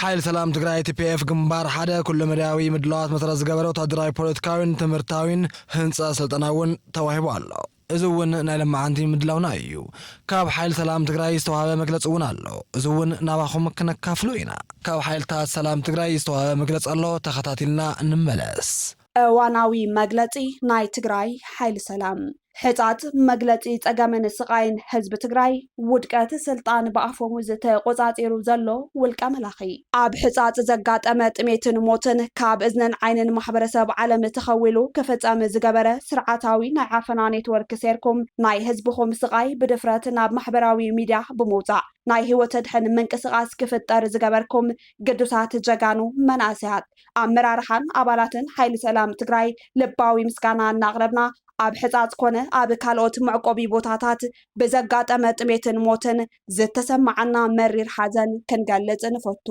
ሓይሊ ሰላም ትግራይ፣ TPF፣ ግንባር ሓደ ኩለመዳያዊ ምድላዋት መሰረት ዝገበረ ወታደራዊ፣ ፖለቲካዊን ትምህርታዊን ህንፀት ስልጠና እውን ተዋሂቡ ኣሎ። እዚ እውን ናይ ለማዓንቲ ምድላውና እዩ። ካብ ሓይሊ ሰላም ትግራይ ዝተውሃበ መግለፂ እውን ኣሎ። እዚ እውን ናባኹም ክነካፍሎ ኢና። ካብ ሓይልታት ሰላም ትግራይ ዝተውሃበ መግለፂ ኣሎ ተኸታቲልና ንመለስ። እዋናዊ መግለፂ ናይ ትግራይ ሓይሊ ሰላም ሕፃፅ መግለፂ ፀገምን ስቓይን ህዝቢ ትግራይ ውድቀት ስልጣን ብኣፈሙዝ ተቖፃፂሩ ዘሎ ውልቀ መላኺ ኣብ ሕፃፅ ዘጋጠመ ጥሜትን ሞትን ካብ እዝንን ዓይንን ማሕበረሰብ ዓለም ተኸዊሉ ክፍፀም ዝገበረ ስርዓታዊ ናይ ዓፈና ኔትወርክ ሴርኩም ናይ ህዝብኹም ስቓይ ብድፍረት ናብ ማሕበራዊ ሚድያ ብምውፃእ ናይ ህይወት ኣድሕን ምንቅስቓስ ክፍጠር ዝገበርኩም ግዱሳት ጀጋኑ መናእሰያት ኣመራርሓን ኣባላትን ሓይሊ ሰላም ትግራይ ልባዊ ምስጋና እናቕረብና፣ ኣብ ሕፃፅ ኮነ ኣብ ካልኦት መዕቆቢ ቦታታት ብዘጋጠመ ጥሜትን ሞትን ዝተሰማዓና መሪር ሓዘን ክንገልፅ ንፈቱ።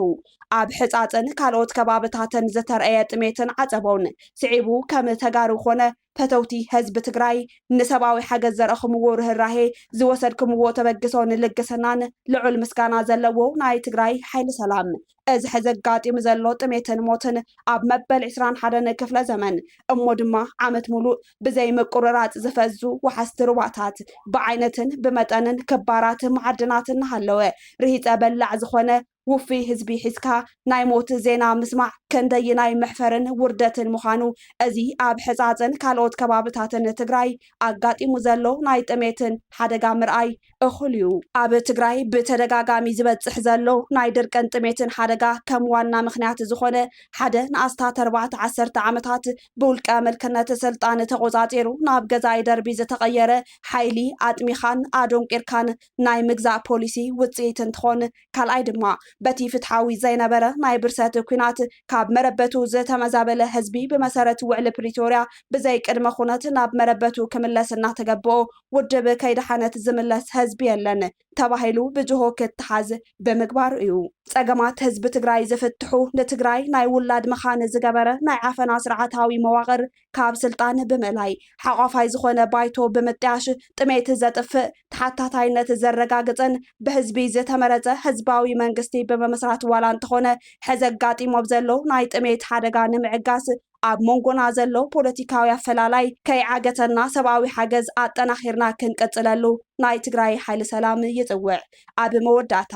ኣብ ሕፃፅን ካልኦት ከባብታትን ዝተርኣየ ጥሜትን ዓፀቦን ስዒቡ ከም ተጋሩ ኮነ ፈተውቲ ህዝቢ ትግራይ ንሰብኣዊ ሓገዝ ዘርኣኹምዎ ርህራሄ፣ ዝወሰድክምዎ ተበግሶ ንልግስናን ልዑል ምስጋና ዘለዎ ናይ ትግራይ ሓይሊ ሰላም እዚ ሕዚ ኣጋጢሙ ዘሎ ጥሜትን ሞትን ኣብ መበል ዕስራን ሓደን ክፍለ ዘመን እሞ ድማ ዓመት ሙሉእ ብዘይ ምቁርራፅ ዝፈዙ ወሓዝቲ ሩባታት ብዓይነትን ብመጠንን ክባራት መዓድናት እናሃለወ ርሂፀ በላዕ ዝኾነ ውፉይ ህዝቢ ሒዝካ ናይ ሞት ዜና ምስማዕ ከንደይናይ መሕፈርን ውርደትን ምዃኑ እዚ ኣብ ሕፃፅን ካልኦት ከባብታትን ትግራይ ኣጋጢሙ ዘሎ ናይ ጥሜትን ሓደጋ ምርኣይ እኹል እዩ። ኣብ ትግራይ ብተደጋጋሚ ዝበፅሕ ዘሎ ናይ ድርቅን ጥሜትን ሓደጋ ከም ዋና ምኽንያት ዝኾነ ሓደ ንኣስታት ኣርባዕተ ዓሰርተ ዓመታት ብውልቀ ምልክነት ስልጣን ተቖፃፂሩ ናብ ገዛኢ ደርቢ ዝተቐየረ ሓይሊ ኣጥሚኻን ኣዶንቂርካን ናይ ምግዛእ ፖሊሲ ውጽኢት እንትኾን፣ ካልኣይ ድማ በቲ ፍትሓዊ ዘይነበረ ናይ ብርሰት ኲናት ካብ መረበቱ ዝተመዛበለ ህዝቢ ብመሰረት ውዕሊ ፕሪቶርያ ብዘይ ቅድመ ኹነት ናብ መረበቱ ክምለስ እናተገበኦ ውድብ ከይደሓነት ዝምለስ ህዝቢ የለን ተባሂሉ ብጅሆ ክተሓዝ ብምግባሩ እዩ። ጸገማት ህዝቢ ትግራይ ዝፍትሑ ንትግራይ ናይ ውላድ መኻን ዝገበረ ናይ ዓፈና ስርዓታዊ መዋቕር ካብ ስልጣን ብምእላይ፣ ሓቋፋይ ዝኾነ ባይቶ ብምጥያሽ፣ ጥሜት ዘጥፍእ፣ ተሓታታይነት ዘረጋግፅን ብህዝቢ ዝተመረፀ ህዝባዊ መንግስቲ ብምምስራት ዋላ እንተኾነ ሕዚ ኣጋጢሞ ብ ዘሎ ናይ ጥሜት ሓደጋ ንምዕጋስ ኣብ ሞንጎና ዘሎ ፖለቲካዊ ኣፈላላይ ከይዓገተና ሰብኣዊ ሓገዝ ኣጠናኺርና ክንቅፅለሉ ናይ ትግራይ ሓይሊ ሰላም ይፅውዕ። ኣብ መወዳእታ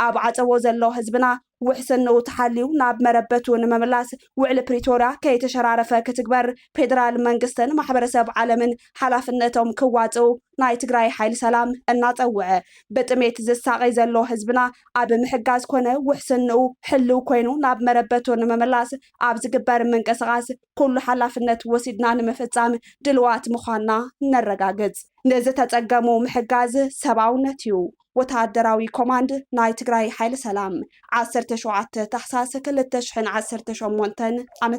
ኣብ ዓፀቦ ዘሎ ህዝብና ውሕስንኡ ተሓልዩ ናብ መረበቱ ንምምላስ ውዕሊ ፕሪቶርያ ከይተሸራረፈ ክትግበር ፌደራል መንግስትን ማሕበረሰብ ዓለምን ሓላፍነቶም ክዋፅኡ ናይ ትግራይ ሓይሊ ሰላም እናፀውዐ ብጥሜት ዝሳቐይ ዘሎ ህዝብና ኣብ ምሕጋዝ ኮነ ውሕስንኡ ሕልው ኮይኑ ናብ መረበቱ ንምምላስ ኣብ ዝግበር ምንቅስቓስ ኩሉ ሓላፍነት ወሲድና ንምፍፃም ድልዋት ምዃንና ነረጋግፅ። ንዝተፀገሙ ምሕጋዝ ሰብኣውነት እዩ። ወተሃደራዊ ኮማንድ ናይ ትግራይ ሓይሊ ሰላም፣ ዓሰርተ ሸውዓተ ታሕሳስ ክልተ ሽሕን ዓሰርተ ሸሞንተን ዓ ም።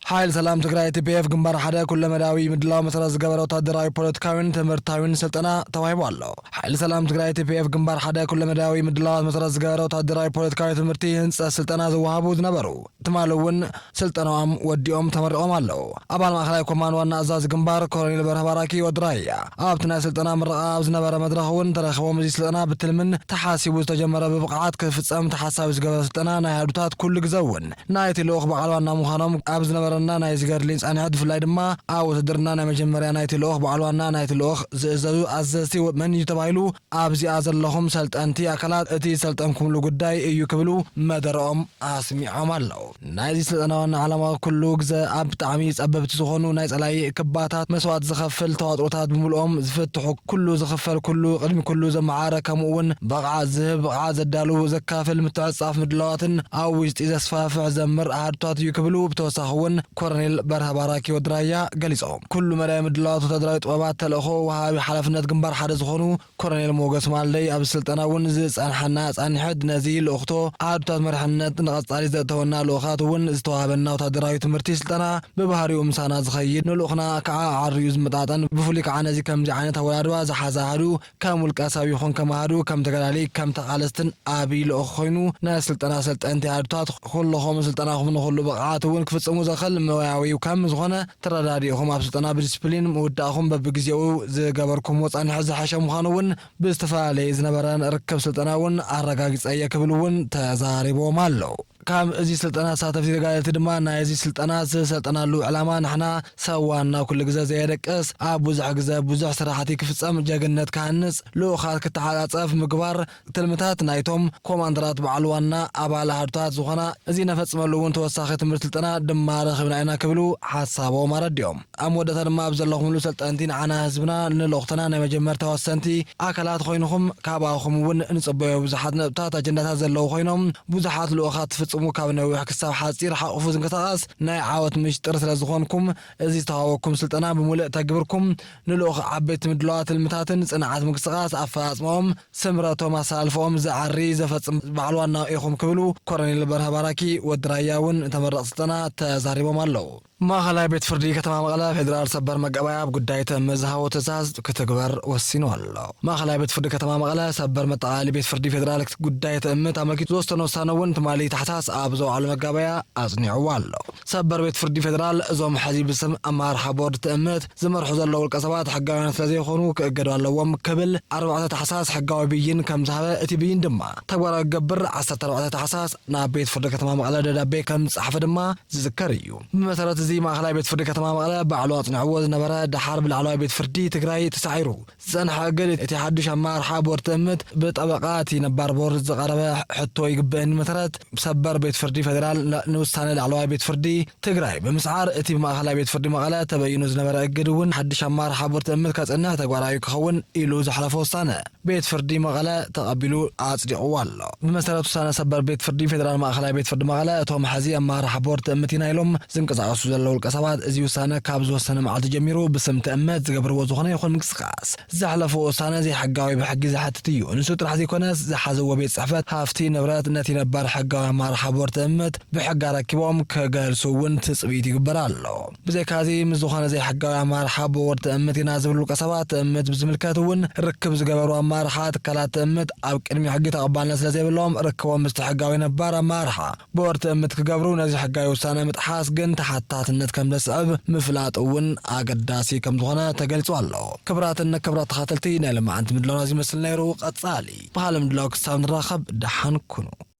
ሓይሊ ሰላም ትግራይ፣ TPF፣ ግንባር ሓደ ኩለመዳያዊ ምድላው መሰረት ዝገበረ ወተሃደራዊ፣ ፖለቲካዊን ትምህርታዊን ስልጠና ተዋሂቡ ኣሎ። ሓይሊ ሰላም ትግራይ፣ TPF፣ ግንባር ሓደ ኩለመዳያዊ ምድላዋት መሰረት ዝገበረ ወተሃደራዊ፣ ፖለቲካዊ፣ ትምህርቲ፣ ህንፀት፣ ስልጠና ዝወሃቡ ዝነበሩ፣ ትማሊ እውን ስልጠነኦም ወዲኦም ተመሪቖም ኣለው። ኣባል ማእኸላይ ኮማንድ ዋና ኣዛዚ ግንባር ኮሎኔል በርሀ ባራኪ ወዲ ራያ ኣብቲ ናይ ስልጠና ምረቓ ኣብ ዝነበረ መድረኽ እውን ተረኺቦም እዚ ስልጠና ብትልምን ተሓሲቡ ዝተጀመረ ብብቕዓት ክፍፀም ተሓሳቢ ዝገበረ ስልጠና ናይ ኣሃዱታት ኩሉ ግዘ እውን ናይቲ ልኡኽ በዓል ዋና ምዃኖም ኣብ ዝነበረና ናይዚ ገድሊ ፃንሒት ብፍላይ ድማ ኣብ ውትድርና ናይ መጀመርያ ናይቲ ልኡኽ በዓል ዋና ናይቲ ልኡኽ ዝእዘዙ ኣዘዝቲ መን እዩ ተባሂሉ ኣብዚኣ ዘለኹም ሰልጠንቲ ኣካላት እቲ ዝሰልጠንኩምሉ ጉዳይ እዩ ክብሉ መደረኦም ኣስሚዖም ኣለው። ናይዚ ስልጠና ዋና ዓላማ ኩሉ ግዘ ኣብ ብጣዕሚ ፀበብቲ ዝኾኑ ናይ ፀላኢ ክባታት መስዋእቲ ዘኸፍል ተዋጥሮታት ብምሉኦም ዝፍትሑ፣ ኩሉ ዝኽፈል ኩሉ ቅድሚ ኩሉ ዘመዓረ ከምኡ እውን ብቕዓት ዝህብ ብቕዓት ዘዳሉ ዘካፍል ምትዕፅፃፍ ምድላዋትን ኣብ ውሽጢ ዘስፋሕፍሕ ዘምር ኣሃዱታት እዩ ክብሉ ብተወሳኺ እውን ኮረኔል በርሀ ባራኪ ወዲ ራያ ገሊፆም። ኩሉ መዳይ ምድላዋት ወታደራዊ ጥበባት ተልእኾ ወሃቢ ሓላፍነት ግንባር ሓደ ዝኾኑ ኮረኔል ሞገስ ማልደይ ኣብዚ ስልጠና እውን ዝፀንሐና ፃኒሕት ነዚ ልኡኽቶ ኣሃዱታት መሪሕነት ንቐፃሊ ዘእተወና ልኡኻት እውን ዝተዋህበና ወታደራዊ ትምህርቲ ስልጠና ብባህሪኡ ምሳና ዝኸይድ ንልኡኽና ከዓ ኣዐርዩ ዝመጣጠን ብፍሉይ ከዓ ነዚ ከምዚ ዓይነት ኣወዳድባ ዝሓዘ ኣሃዱ ከም ውልቀሰብ ይኹን ከም ኣሃዱ፣ ከም ተጋዳልይ፣ ከም ተቓለስትን ኣብይ ልኡኽ ኮይኑ ናይ ስልጠና ኣሰልጠንቲ ኣሃዱታት ኹሎኹም ስልጠናኹም ንኹሉ ብቕዓት እውን ክፍጽሙ ዘኸል መዋያዊ ከም ዝኾነ ተረዳዲእኹም ኣብ ስልጠና ብዲስፕሊን ምውዳእኹም በብግዜኡ ዝገበርኩምዎ ጸኒሑ ዝሐሸ ምዃኑ እውን ብዝተፈላለየ ዝነበረ ርክብ ስልጠና እውን ኣረጋጊጸ እየ ክብሉ እውን ተዛሪቦም ኣለው። ካብ እዚ ስልጠና ተሳተፍቲ ተጋደልቲ ድማ ናይ እዚ ስልጠና ዝሰልጠናሉ ዕላማ ንሕና ሰብ ዋና ኩሉ ግዘ ዘየደቅስ ኣብ ብዙሕ ግዘ ብዙሕ ስራሕቲ ክፍፀም ጀግንነት ክሃንፅ ልኡኻት ክተዓፃፀፍ ምግባር ትልምታት ናይቶም ኮማንደራት በዓል ዋና ኣባል ኣሃዱታት ዝኾና እዚ ነፈፅመሉ እውን ተወሳኺ ትምህርት ስልጠና ድማ ረኺብና ኢና ክብሉ ሓሳቦም ኣረዲኦም። ኣብ መወዳእታ ድማ ኣብ ዘለኹምሉ ሰልጠንቲ ንዓና ህዝብና ንልኡኽትና ናይ መጀመርታ ወሰንቲ ኣካላት ኾይንኹም ካብኣኹም እውን ንፅበዮ ብዙሓት ነጥብታት ኣጀንዳታት ዘለዉ ኾይኖም ብዙሓት ልኡኻት ትፍፅሙ ካብ ነዊሕ ክሳብ ሓፂር ሓቑፉ ዝንቀሳቐስ ናይ ዓወት ምሽጥር ስለዝኾንኩም እዚ ዝተዋህበኩም ስልጠና ብሙልእ ተግብርኩም ንልኡኽ ዓበይቲ ምድላዋት ትልምታትን ፅንዓት ምንቅስቓስ ኣፈፃፅመኦም ስምረቶም ኣሰላልፈኦም ዝዓሪ ዘፈፅም በዓል ዋና ኢኹም ክብሉ ኮረኔል በርሀ ባራኪ ወዲ ራያ እውን ንተመረቕቲ ስልጠና ተዛሪቦም ኣለው። ማእኸላይ ቤት ፍርዲ ከተማ መቐለ ፌዴራል ሰበር መጋባእያ ኣብ ጉዳይ ተሜ ዝሃቦ ትእዛዝ ክትግበር ወሲኑ ኣሎ። ማእኸላይ ቤት ፍርዲ ከተማ መቐለ ሰበር መጠቓለሊ ቤት ፍርዲ ፌዴራል ጉዳይ ተሜ ኣመልኪቱ ዝወሰኖ ውሳነ እውን ትማሊ ታሕሳስ ኣብ ዘውዓሎ መጋባእያ ኣፅኒዕዎ ኣሎ። ሰበር ቤት ፍርዲ ፌዴራል እዞም ሕዚ ብስም ኣመራርሓ ቦርድ ተሜ ዝመርሑ ዘለዉ ውልቀ ሰባት ሕጋውያን ስለዘይኾኑ ክእገዱ ኣለዎም ክብል ኣርባዕተ ታሕሳስ ሕጋዊ ብይን ከምዝሃበ እቲ ብይን ድማ ተግባራዊ ክገብር ዓሰርተ ኣርባዕተ ታሕሳስ ናብ ቤት ፍርዲ ከተማ መቐለ ደብዳቤ ከም ዝጸሓፈ ድማ ዝዝከር እዩ። ብመሰረት እዚ ማእኸላይ ቤት ፍርዲ ከተማ መቐለ ባዕሉ ኣፅኒዕዎ ዝነበረ ደሓር ብላዕለዋይ ቤት ፍርዲ ትግራይ ተሳዒሩ ዝፀንሐ እግድ እቲ ሓዱሽ ኣመራርሓ ቦርድ ትእምት ብጠበቓ እቲ ነባር ቦርድ ዝቐረበ ሕቶ ይግበእኒ መሰረት ሰበር ቤት ፍርዲ ፌዴራል ንውሳነ ላዕለዋይ ቤት ፍርዲ ትግራይ ብምስዓር እቲ ብማእኸላይ ቤት ፍርዲ መቐለ ተበይኑ ዝነበረ እግድ እውን ሓዱሽ ኣመራርሓ ቦርድ ትእምት ከፅንዕ ተግባራዊ ክኸውን ኢሉ ዘሕለፎ ውሳነ ቤት ፍርዲ መቐለ ተቐቢሉ ኣፅዲቑዎ ኣሎ። ብመሰረት ውሳነ ሰበር ቤት ፍርዲ ፌደራል ማእኸላይ ቤት ፍርዲ መቐለ እቶም ሐዚ ኣመራርሓ ቦርድ ትእምት ኢና ኢሎም ዝንቀሳቐሱ ዘለዉ ውልቀ ሰባት እዚ ውሳነ ካብ ዝወሰነ መዓልቲ ጀሚሩ ብስም ትእምት ዝገብርዎ ዝኾነ ይኹን ምንቅስቓስ ዘሕለፍዎ ውሳነ ዘይሕጋዊ ብሕጊ ዘሐትት እዩ። ንሱ ጥራሕ ዘይኮነስ ዝሓዝዎ ቤት ፅሕፈት ሃፍቲ ንብረት ነቲ ነባር ሕጋዊ ኣመራርሓ ቦርድ ትእምት ብሕጊ ኣረኪቦም ክገልፁ እውን ትፅቢት ይግበር ኣሎ። ብዘይካዚ ምስ ዝኾነ ዘይሕጋዊ ኣመራርሓ ቦርድ ትእምት ኢና ዝብሉ ውልቀሰባት ትእምት ብዝምልከት እውን ርክብ ዝገበሩ ኣመራርሓ ትካላት ትእምት ኣብ ቅድሚ ሕጊ ተቐባልነት ስለዘይብሎም ርክቦም ምስቲ ሕጋዊ ነባር ኣመራርሓ ቦርድ ትእምት ክገብሩ ነዚ ሕጋዊ ውሳነ ምጥሓስ ግን ተሓታትነት ከምዘስዕብ ምፍላጥ እውን ኣገዳሲ ከምዝኾነ ተገሊፁ ኣሎ። ክብራትን ክብራት ተኻተልቲ ናይ ለማዓንቲ ምድላውና እዚ ይመስል ነይሩ። ቐፃሊ ብኻሊእ ምድላው ክሳብ ንራኸብ ደሓን ኩኑ።